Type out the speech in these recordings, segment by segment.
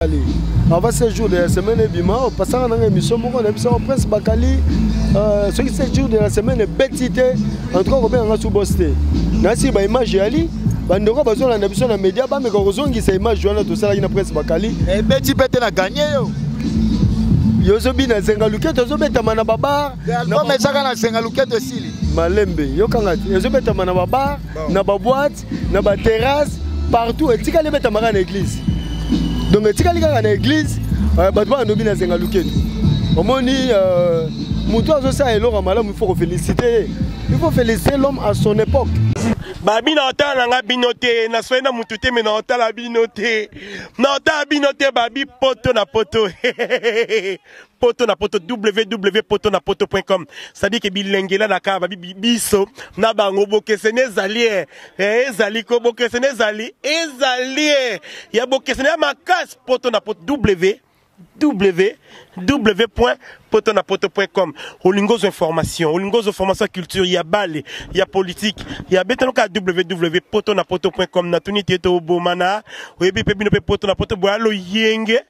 bakali avant ce jour de la semaine ebima opasaka nanga émission moko na biso prince bakali euh, soki ce jour de la semaine ebeti te en tout cas kobenga nga subos te nasi baimage yali bandeko bazolanda biso na média bameka kozongisa image wana tosalaki na prince bakali ebeti eh, mpe te na gagne yo yo ozobina zenga luketo ezobetama na babar ezaka na zenga luketo esili malembe yokanga te ezobetama na babar na baboite na ba terrasse partout etikali ebetamaka na église donc etikali kaka na église euh, bato bana nobi na zenga lukelu omoni euh, moto azosala eloko ya malamu ifo kofélicite ye ifo félicite l'homme à son époque babi na otala na nga bino te naswai na motu te me na otala bino te na otala bino te babi poto na poto poto na poto www.potonapoto.com c'est-à-dire que bilengela na kaba biso na bango bokeseni ezali eh, eh, ezali ko bokeseni ezali ezali eh. ya bokeseni ya makasi poto na poto w www.potonapoto.com olingozo information olingozo formation culture ya bale ya politique ya betanoka www.potonapoto.com natuni te tobomana oyebi mpe bino mpe poto na poto boya loyenge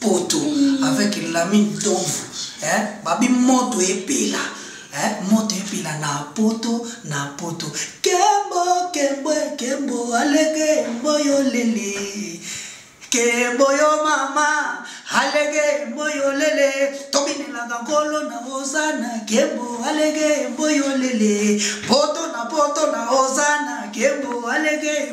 poto avec lami ntomvu eh, babi moto epela eh, moto epela na poto na poto kembo kembo kembo alege mboyo lele kembo yo mama alege mboyo lele tobinelaka nkolo na ozana kembo alege mboyo lele poto na poto na ozana kembo alege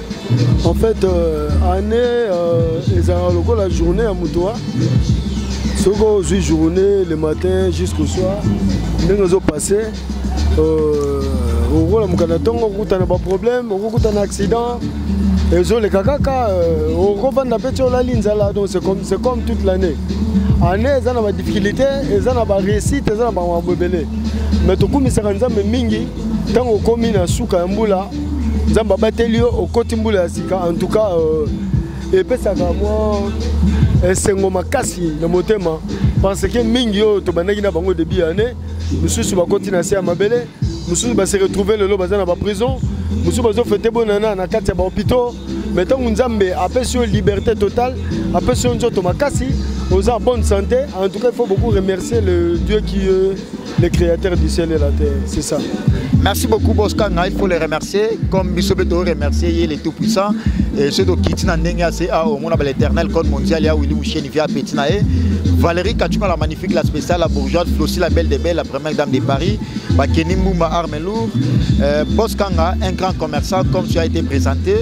En fait, euh, année euh, ezalaka lokola journée ya moto wa soki ozwi journée le matin jusqu'au soir ndenge ezopasse euh, okolamuka na ntongo okokutana baproblème okokutana accident ezoleka kaka euh, okofanda mpe ti olali nzala donc c'est comme, comme toute l'année année eza na badifficulté eza na baréussite eza na bamabo ebele mais tokumisaka nzambe mingi ntango okomi na suka ya mbula nzambe abateli yo okoti mbula ya sika en tout cas euh, epesaka mwa esengo makasi na motema parce que mingi oyo tobandaki na bango début ya année mosusu bakoti na se ya mabele mosusu base retrouve lelo baza na baprison mosusu bazofete bonana na kati ya bahopitaux mais ntango nzambe apesi yo liberté totale apesi yo nzoto makasi oza en bonne santé en tout cas il faut beaucoup remercier le dieu qui euh, le créateur du ciel et la terre c'est ça merci beaucoup boskanga il faut le remercier comme biso mpe toremercier ye le tout puissant soki tokiti na ndenge ya se a omona baleternel code mondial ya willi musheni via apeti na ye Valérie Kachuma, la magnifique, la spéciale, la bourgeoise, Flossi, la belle des belles, la première dame de Paris, Bakeni Mbumba, arme lourd, euh, Boss Kanga, un grand commerçant, comme tu as été présenté.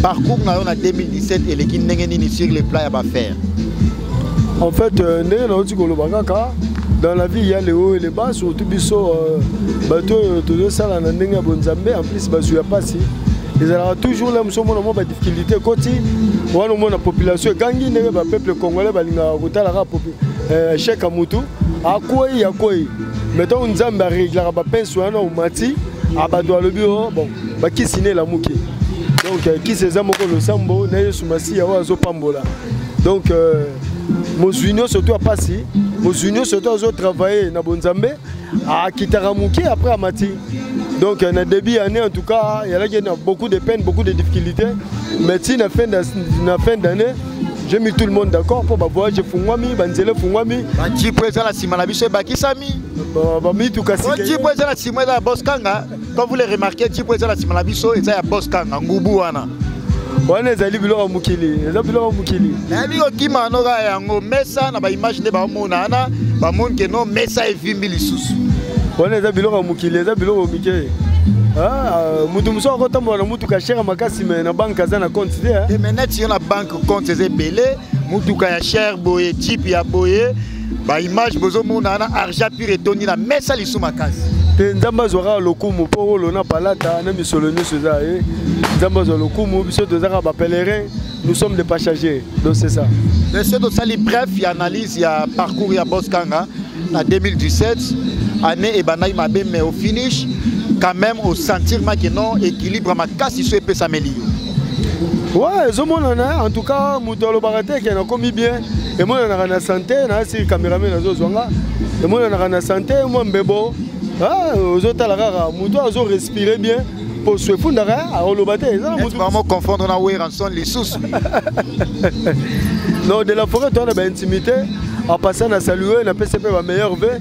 Parcours, on a 2017 et les Kindengenini sur les plats à faire. En fait, euh, ndenge nauti koloba kaka dans la vie il y a les hauts et les bas surtout biso euh, bato oyo tozosala na ndenge ya bonzambe en plus bazwi ya mpasi ezalaka toujours le mosusu omona mwa badifficulté ekoti wana omona population egangi ndenge bapeuple congolais balingaka kotalaka euh, chèque ya motu akwei akwei mai ntango nzambe areglaka bapense wana omati abado alobi o oh, bon bakisi na elamuki donc kisi eza moko losambo na yesu masiya oyo azopambola donc euh, mozwi nyonso to apasi mozwi nyonso to azotravaille na bonzambe akitaka moke après amati donc euh, na début ya année en tout cas yalaki na beaucoup de peine beaucoup de difficulté mais ti na fin d'année j'ai mis tout le monde d'accord mpo bavoyage efungwami banzela efungwami bajipo eza na nsima na biso ebakisami bamituka jipo eza na nsima eza na boskanga Quand vous les remarquez, Djibo eza na sima na biso, eza ya boss kanga ngubu wana. wana ezali biloko ya mokili eza biloko ya mokili nayebi kokima no kaka yango mesa na baimage nde baomona wana bamoni ke no mesa evimbi lisusu wana eza biloko ya mokili eza biloko mike ah, moto mosusu akotambola na motuka shere makasi me na banke aza na compte te eh? eh, me neti yo na banke compte eza ebele motuka ya shere boye jipe ya boye ba image bozomona wana argent pure etondi na mesa lisu makasi te nzambe azwa kaka lokumu mpo wolo na palata na misolo nyonso eza ye eh. nzambe azwa lokumu biso toza kaka bapèlerin nous sommes des passagers donc c'est ça monsieur tosali bref ya analyse ya parcours ya bos kanga na 2017 année ebandaki mabe mais au finish quand même osentirmaki non équilibre makasi so epesameli yo Ouais, ezomonana en tout cas moto alobaka te ke nakomi bien emonanaka na sante nayasi cameraman azozwa nga emonanaka na sante mwa mbebo ah, ozotala kaka moto azo respire bien poso efundaka eh, akoloba te eza namotubango confondre na weranson lisusu non de la forêt toa na baintimité en passant na salue napesi mpe bameilleur ve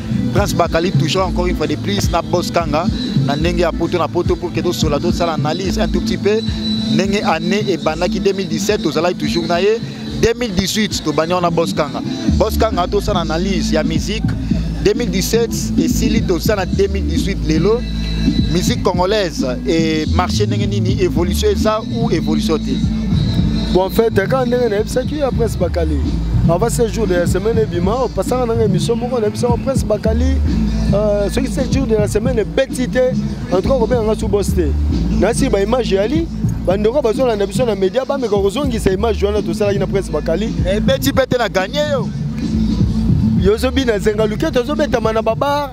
Prince Bakali toujours encore une fois de plus na Boss Kanga na ndenge ya poto na poto pour que tosola tosala analyse un tout petit peu ndenge année ebandaki 2017 tozalaki toujours na ye 2018 tobandi wana Boss Kanga Boss Kanga tosala analyse ya musique 2017 esili tosala 2018 lelo musique congolaise et marché ndenge nini évolution eza ou évolution te bon en fait kaka ndenge nayebisaki ya prince bakali avant ce jour de la semaine ebima opasaka nanga émission moko na biso prince bakali euh, soki ce jour de la semaine ebeti te en tout cas kobenga nga subos te nasi baimage yali bandeko bazolanda biso na média bameka kozongisa image wana tosalaki na prince bakali ebeti eh, mpe te na gagne yo yo ozobina zenga luketo ezobetama na babar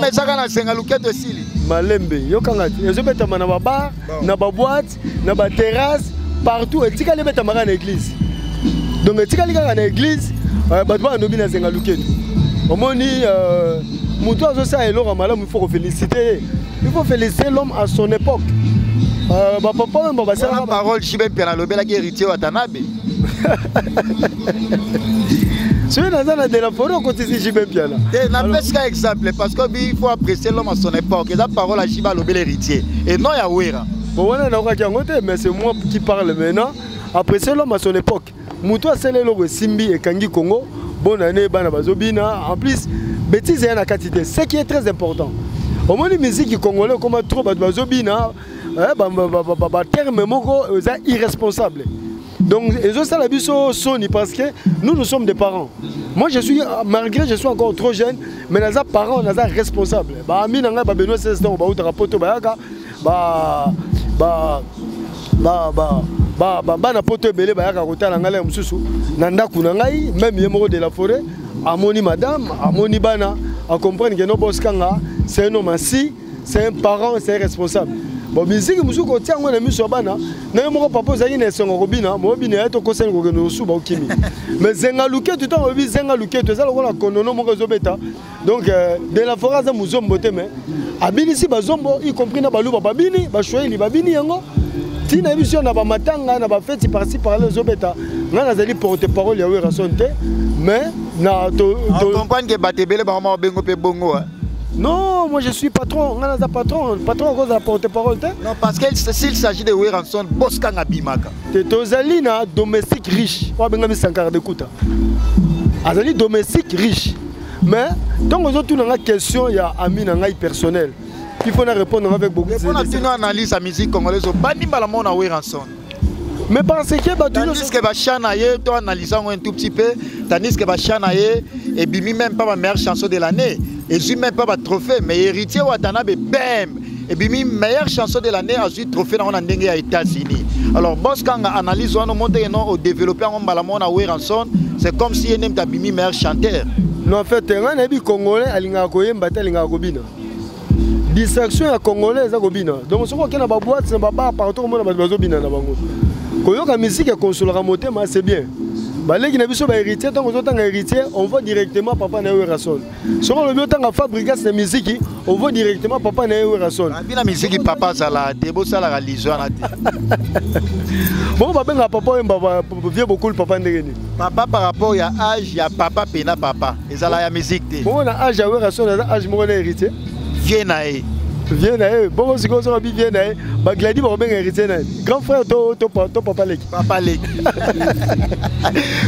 ezaka na zenga luketo esili malembe yokanga ezobetama na babar na baboite na ba terrasse partout etikali ebetamaka na église donc etikali kaka na église euh, bato bana nobi na zenga lukelu omoni euh, moto azosala eloko ya malamu ifo kofélicite ye ifo félicite l'homme à son époque euh, bapapa oyo mba basalaka parole shibe mpe nalobelaki héritier watanabe soki naza na delaforo okotisi jibe mpiana te napesi ka exemple parce que il faut apprécier l'homme à son époque eza parole ya jibe alobela héritier et non ya wera Bon, wana naokaki yango te mais c'est moi qui parle maintenant après c'est l'homme à son époque moto asala eloko esimbi ekangi congo bonne année bana bazobina en plus bêtise eya na kati te ce qui est très important omoni miziki congolais okoma trop bato bazobina eh, baterme moko eza irresponsable donc ezosala biso soni parce que nous nous sommes des parents moi je suis malgré je suis encore trop jeune mais naza parent naza responsable baami na ngai babenois 16 ntango bautaka poto bayaka ba ba ba ba ba ba bana poto ebele bayaka kotala ngai ya mosusu na ndako na ngai meme ye moko de la forêt amoni madame amoni bana acomprendre ke no boskanga c'est un homme ainsi c'est un parent c'est un responsable bon miziki mosusu kotia yango na miso ya bana na yo moko papa ozalaki na esengo kobina mobina ya tokosani kokende osuba okimi mais zenga luketu ntango oyebi zenga luketu eza lokola kondono moko ezobeta donc euh, de la foret aza muzombo te mais abinisi bazombo y compris na baluba babini bashoeli babini yango ntina ya biso na bamatanga na bafeti parci parle ezobeta ngai nazali porte parole ya werason te mais na comprendre ke bato ebele bango moko bengo mpe bongo Non, moi je suis patron. On a un patron. Patron, on a porte-parole. Non, parce que s'il s'agit de Weranson, Boskan Abimaka. T'es Tozalina, domestique riche. On a un sankar de kouta. Azali domestique riche. mais ntango ozotuna nga question ya ami na ngai personnel il faut na répondre nga avec beaucoup mpona tino analyse ya musique congolaise obandi mbala moko na weranson mais parce que bato tandis que bachan na ye to analyse yango un tout petit peu tandis que bachan na ye ebimi même pas ba meilleure chanson de l'année ezwi même pas batrophée mais héritier watanabe bem ebimi meilleure chanson de l'année azwi trophée nango na ndenge ya états-unis alors bos kanga analyse wana omonteke no odeveloppe yango mbala moko na weranson c'est comme si ye nde moto abimi meilleur chanteur no en fait ngai nayebi congolais alingaka koyemba te alingaka kobina distraction ya congolais eza kobina donc soki okei na baboite na babar partout okomona bato bazobina na bango koyoka miziki ekonsolaka motema c'est bien baleki na biso ba héritier ntango ozotanga héritier on va directement papa na yo erason soki olobi otanga fabrigas na miziki ovo directement papa na ye werason abi na miziki papa azala te bosalaka lizo wana te bongo babengaka papa oyo mbaba vie bokulu papa ndenge nini papa par rapport ya age ya papa mpe na papa ezala ya miziki te bongo na age ya werason aza age moko na héritier vie na ye vie na ye bongo sikoyo soki abi vie na ye bagladi bakobenga héritier na ye grand frère to papa leki Papa Leki.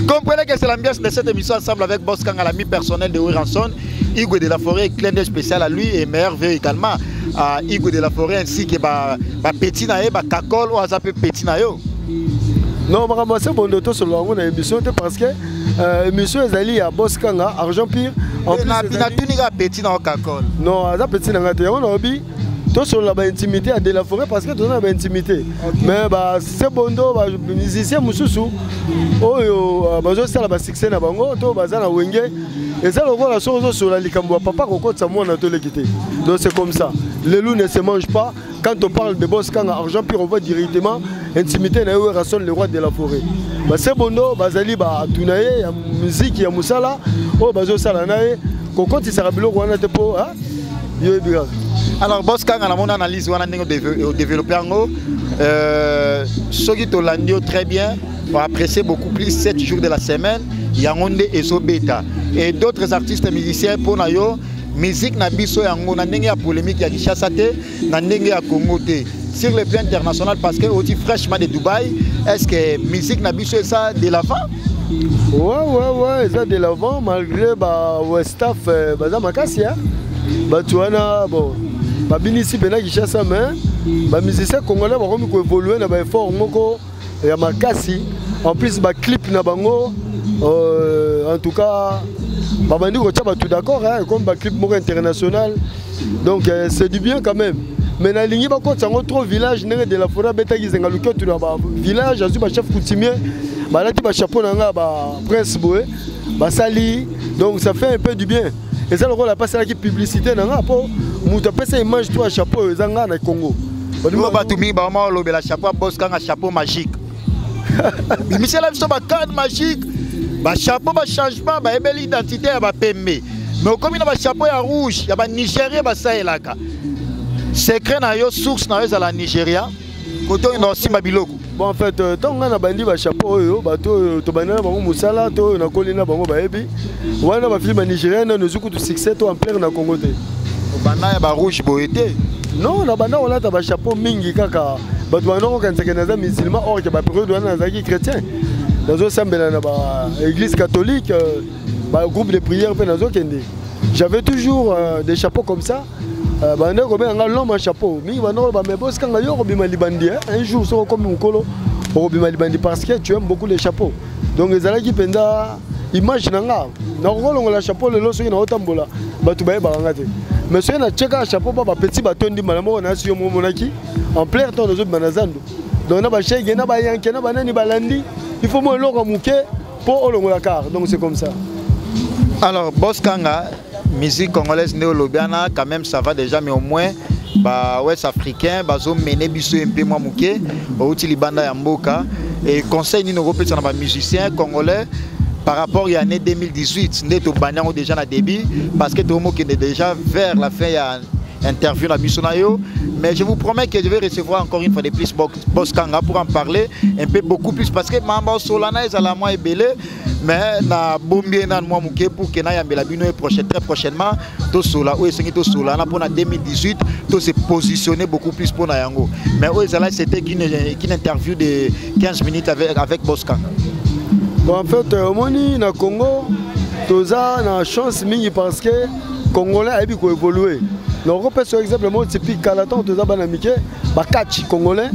Comprenez que c'est l'ambiance de cette émission ensemble avec Boss Kanga, l'ami personnel de Wiranson, Hugo de la Forêt, clin d'œil spécial à lui et merveilleux également à Hugo de la Forêt ainsi que ba, ba petit nae, ba kakol ou azape petit nayo. Non, makambo ya sembo ndoto solo yango na émission te parce que euh, émission ezali ya Boss Kanga, Argent Pire. En plus, ezali- Natuni kaka petit na yo kakol. Non, aza petit na ngai te. Yango nalobi tosolola ba intimité ya de la forêt parce que toza na ba intimité mais ba sebondo ba musicien mosusu oyo euh, bazosala ba succès na bango to baza na wenge eza lokola soki ozosolola likambo ya papa kokotisa mwana toleki te donc c'est comme ça le loup ne se mange pas quand on parle de boss kanga argent pire on voit directement intimité na ye werrason le roi de la forêt ba sebondo bazali bato na ye ya miziki ya mosala oyo bazosala na ye kokotisaka biloko wana te mpo Yo yebi kaka. Alors boss kanga namona analyse wana ndenge o développer yango euh soki to landi yo très bien on apprécie beaucoup plus 7 jours de la semaine yango nde ezo beta et d'autres artistes musiciens pona yo musique na biso yango na ndenge ya polémique ya Kinshasa te na ndenge ya Congo te sur le plan international parce que oti fraîchement de Dubaï est ce que musique na biso eza de l'avant ouais ouais ouais eza de l'avant malgré ba westaf euh, baza makasi ya bato wana bon babinisi mpena kinshasa mais bamusicien congolais bakomi koévolue na baeffort moko ya makasi en plus ba clip na bango euh, en tout cas babandi kotya bato d'accord hein, comme ba clip moko international donc euh, c'est du bien quand même mais nalingi bakotisa yango trop village ndenge de la foret abetaki zenga luketu na ba village azwi ba chef coutumier balati ba chapeau na ngai ba prince boye basali donc ça fait un peu du bien eza lokola apasalaki publicité na nga mpo moto apesa image to ya chapeau oyo eza ngai na congo olingo bato mingi baoma olobela chapeau ya bos kanga chapeau magique bimisela biso bacade magique bachapeau bachangement bayebeli identité ya bapembe me okomi na bachapeau ya rouge ya banigérien basalelaka secret na yo source na yo ezala nigeria koto oyenda osimba biloko bon en fait ntango euh, ngai nabandi bachapeau oyo bato oyo tobandi na bango mosala to oyo nakoli na bango bayebi wana bafilme ya nigérien nano ezwi kutu succès to amplere na congo te obanda ya barouge boye te non nabanda kolata bachapeau mingi kaka bato banda kokanisaka naza musulman or ke baperiode wana nazalaki chrétien nazosambela na baéglise catholique euh, bagroupe de prière mpe nazokende j'avais toujours euh, des chapeaux comme ça Euh, bande kobenga nga loma chapeau mingi bande koloba mais bosi kanga yo okobima libandi eh? un jour soki okomi mokolo okobima libandi parce que tu aimes beaucoup les chapeaux donc ezalaki mpenza image na nga nakokolongola chapeau lelo soki naotambola bato bayebaka nga te mais soki natyeka chapeau ba bapeti batondi mbala moko nayasi yo momonaki en plein temps nazobima na zando donc na bashege na bayanke na banani balandi il faut mo eloko moke mpo olongola kar donc c'est comme ça alors bos kanga musique congolaise nde olobi wana quand même ça va déjà mais au moins ba ouest africain bazomene biso ye mpe mwa moke outi libanda ya mboka e conseil nini okopesa na bamusicien congolais par rapport ya année 2018 nde tobandi yango déjà na début parce que tokomokende déjà vers la fin ya interview na biso na yo mais je vous promets que je vais recevoir encore une fois de plus Boss Kanga pour en parler un peu beaucoup plus parce que Mamba Solana ezala mwa ebele mais na bombi ye nanu mwa moke pour ke nayambela bino ye prochain très prochainement tosola oyo esengi tosola wana mpona 2018 to se positionner beaucoup plus mpo na yango mais oyo ezalaki c'était qu'une interview de 15 minutes avec, avec boscan bon, en fait euh, omoni na congo toza na chance mingi parce que congolais ayebi koévolue nakopesa exemple moko tipi kala ntango toza bana mike bakatch congolais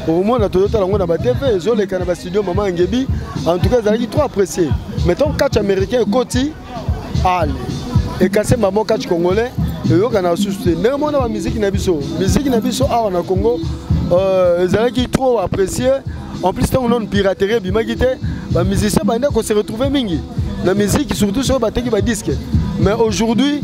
okomona toyotala yango na batv ezoleka na bastudio mama angebi en tout cas ezalaki trop apprécié mais ntango catch américain ekoti ale ekase mamo catch congolais eyokanaka susu te ndenge mona bamiziki na biso miziki na biso awa na congo euh, ezalaki trop apprécié en plus ntango nano piraterie ebimaki te bamusicien banda kose retrouve mingi na miziki surtout soki bateki badisque mais aujourd'hui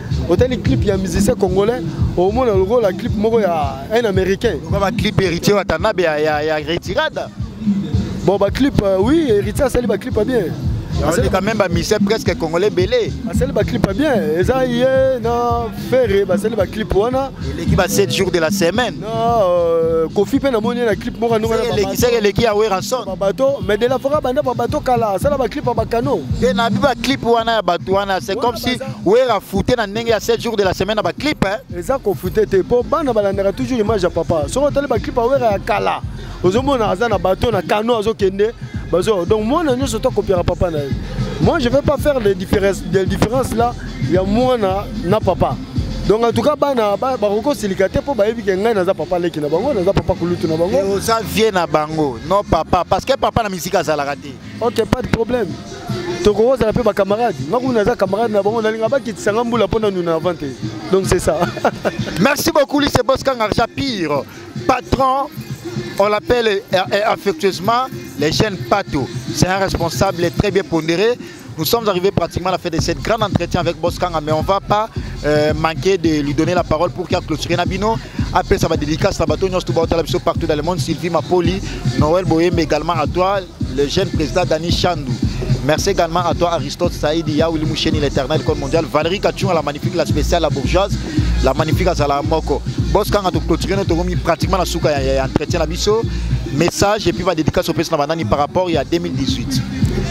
otali clip ya musicien congolais omona lokola clip moko ya un américain ba clip héritier watanabe ya, ya, ya retirada bon ba clip euh, oui héritier asali ba clip bien asali quand même ba musicien presque congolais belé asali ba clip bien eza ye na ferre basali ba clip wana eleki ba 7 jours de la semaine na euh, kofi pe namoni ye na clip moko ndonga na eleki seke eleki ya werrason ba bato mais de la fora banda ba bato kala asala ba clip ya ba canon te na bi ba clip wana ya bato wana c'est comme si wera fute na ndenge ya 7 jours de la semaine na baclip eh? eza kofute te mpo bana balandaka toujours image ya papa soki otali baclip ya wera ya kala ozomona aza na bato na kano azokende bazo donc mwana nyonso to akopiaka papa na ye moi je vais pas faire des différences, des différences là ya mwana na papa donc en tout cas bana bakoki kosilika te mpo bayebi ke ngai naza papa leki na bango naza papa kulutu na bango oza vie na bango non papa parce que papa na miziki azalaka te ok pas de problème tokokozala mpe bacamarade nga kuna naza camarade na bango nalinga bakitisa nga mbula mpo na nuna avant te donc c'est ça merci beaucoup lise boskangarja pire patron on l'appelle euh, euh, affectueusement les jeunes pato c'est un responsable très bien pondéré Nous sommes arrivés pratiquement à la fin de cette grande entretien avec Boskanga, mais on ne va pas euh, manquer de lui donner la parole pour qu'il clôture Nabino. apesa ba dédicace na bato nyonso to baotala biso partout dans le monde sylvie mapoli noël boyembe également à toi le jeune président dani chandu Merci également à toi Aristote Saïdi, Yaouli Moucheni, l'éternel code mondial, Valérie Kachunga, la magnifique, la spéciale, la bourgeoise, la magnifique Azala Moko. Boss Kanga, tu clôturer notre gomi pratiquement la souka, il y a entretien à biso, message et puis va dédicace au président Banani par rapport il y a 2018.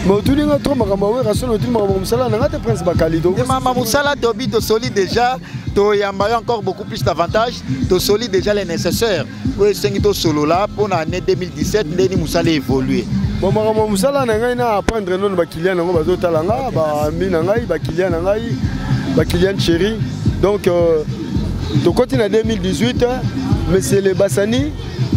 motuni nga trop makambo ya wera solo otuni makambo mosala na nga te prince bakalido mama mosala tobi tosoli déjà toyamba yo encore beaucoup juste avantage tosoli déjà les nécessaires oyo esengi tosolola mpo na année 2017 ndeni mosala évolue bon makambo ya mosala na ngai na apprendre nono bakilian yango bazotala nga baami na ngai bakilian na ngai bakilian chéri donc euh, tokoti na 2018 monsieur le basani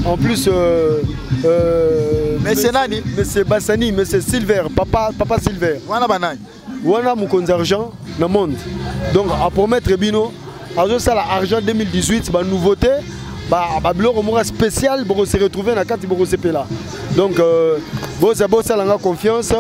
en plus euh, euh, monsieur nani monsieur basani monsieur silver papa, papa silver wana banani wana mokonzi argent na monde donc apromettre bino azosala argent 2018 banouveauté babiloko moko spécial bokose retrouve na kati bokosepela donc euh, boza bosala nga confiance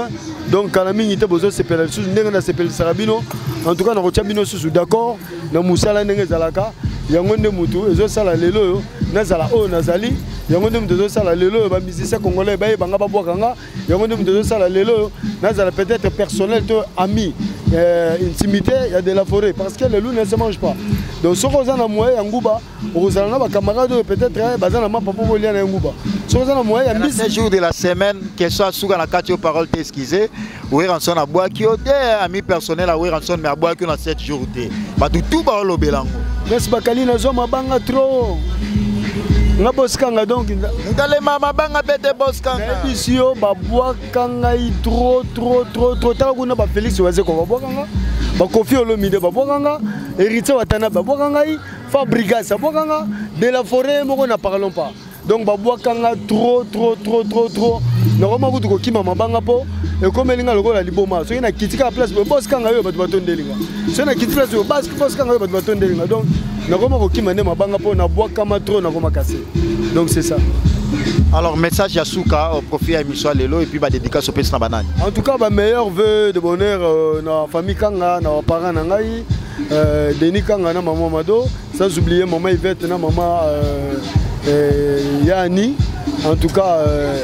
donc kala mingi te bozosepela lisusu ndenge nasepelisaka bino en tout cas nakotya bino susu d'accord na mosala ndenge ezalaka yango nde motu ezosala lelo oyo nazala oyo nazali yango nde moto ezosala lelo oyo bamusicien congolais bayebanga babwaka nga yango nde moto ezosala lelo oyo nazala peut-être personnel to ami euh, intimité ya de la forêt parce que le loup ne se mange pas donc soki oza na moyen ya nguba okozala na bacamarade oyo peut-être eh, baza na mapa mpo bolia na ye nguba soki oza na moyen ya mbisi jour de la semaine question asuka na kati yo parole te excuse weranson abwaki yo te ami personnel ya weranson mais abwaki yo na 7 jour te bato tout baolobela yango kasi bakali nazwa mabanga trop nga bosikanga donc ngalema mabanga bete boskangayebisi yo babwaka ngai tro tro tro tro taka kuna bafelix wazeko babwaka nga bakofi olomide babwaka nga héritier watana babwaka ngai fabrigas abwaka nga de la forêt moko na parlon pas donc babwaka nga tro tro tro tro tro nakoma kutu kokima mabanga mpo ekomeli nga lokola liboma soki nakiti kaka place boye boskanga yo bato batondeli nga soki nakiti place boye boskanga yo bato batondeli nga donc nakoma kokima nde mabanga mpo nabwakama trop nakoma kase donc c'est ça alors message ya suka au profit ya émission lelo et puis ba dédicace opesi na banani en tout cas ba meilleurs vœux de bonheur euh, na famille kanga na baparent na ngai euh, denis kanga na maman mado sans oublier maman ivette na maman euh, euh, yani en tout cas euh,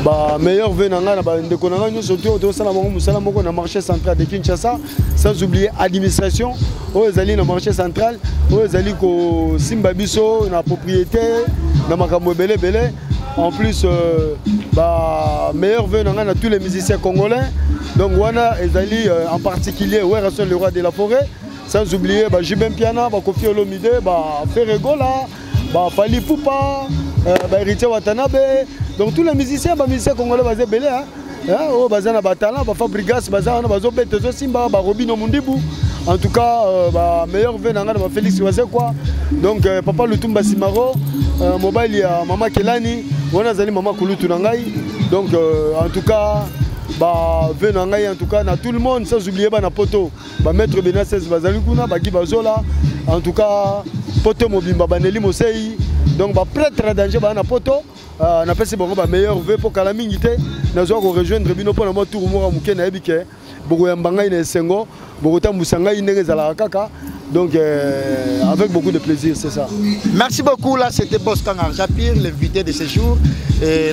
ba meilleurs vœux na ngai na bandeko na ngai nyonso te oyo tosala bango mosala moko na marché central de kinshasa sans oublier administration oyo ezali na marché central oyo ezali kosimba biso na propriété na makambo ebele ebele en plus euh, ba meilleur vœu na ngai na tous les musiciens congolais donc wana ezali euh, en particulier werrason le roi de la forêt sans oublier ba jubin piana bakofi olomide ba ferregola ba Fally Ipupa euh, ba Heritier Watanabe donc tous les musiciens ba musiciens congolais baza ebele hein hein oyo oh, baza na ba talent ba Fabrigas baza wana bazo beta ezo simba ba Robino Mundibu en tout cas euh, ba meilleur vœux na nga na ba Felix Waze quoi donc euh, papa Lutumba Simaro euh, mobile ya mama Kelani wana azali mama Kulutu na ngai donc euh, en tout cas ba vœux na ngai en tout cas na tout le monde sans oublier ba na poto ba maître bena 16 bazali kuna bagi bazola en tout cas poto mobimba baneli mosei donc ba prêtre ya danger baa na poto uh, napesi bango ba meilleur vœu mpo kala mingi te nazwa korejoindre bino mpo na mwa tour moko moke nayebi ke bokoyamba ngai na esengo bokotambwisa ngai ndenge ezalaka kaka Donc, euh, avec beaucoup de plaisir, c'est ça. Merci beaucoup. Là, c'était Boss Kangar Japir, l'invité de ce jour. Et,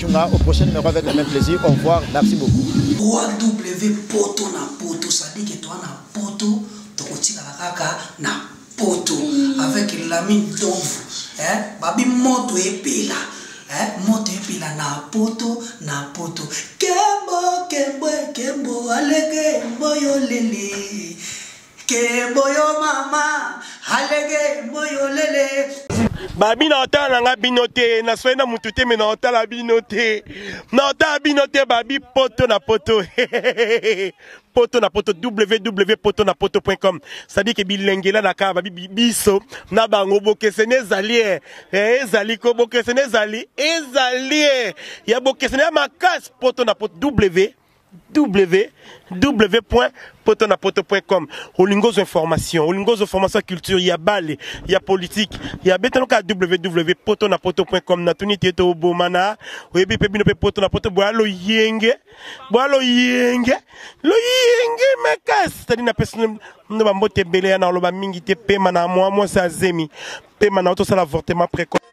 Tunga au prochain numéro avec le même plaisir. Au revoir. Merci beaucoup. 3W poto na poto, ça dit que toi na poto, tokotika la kaka na poto mm. avec l'ami Donvu. Hein? Babi moto epela. Hein? Moto epela na poto na poto. Kembo kembo kembo alege mboyo lele. kembo yo mama alege mboyo lele babi na otala na nga bino te naswai na mutu te me na otala bino te na otala bino te babi poto na poto poto na poto www poto na poto com cestadire ke bilengela na kaka babi biso na bango bokeseni ezali e eh, ezali ko bokeseni ezali ezali e ya bokeseni ya makasi poto na poto w www.potonapoto.com olingozo information olingozo formation culture ya bale ya politique ya betanoka www.potonapoto.com na tuni te to bomana oyebi pe bino pe poto na poto boya loyenge boya loyenge loyenge makasi tadi na pesi ndo bambote ebele ya na oloba mingi te pema na mwa mwasi azemi pema na otosala avortement précoce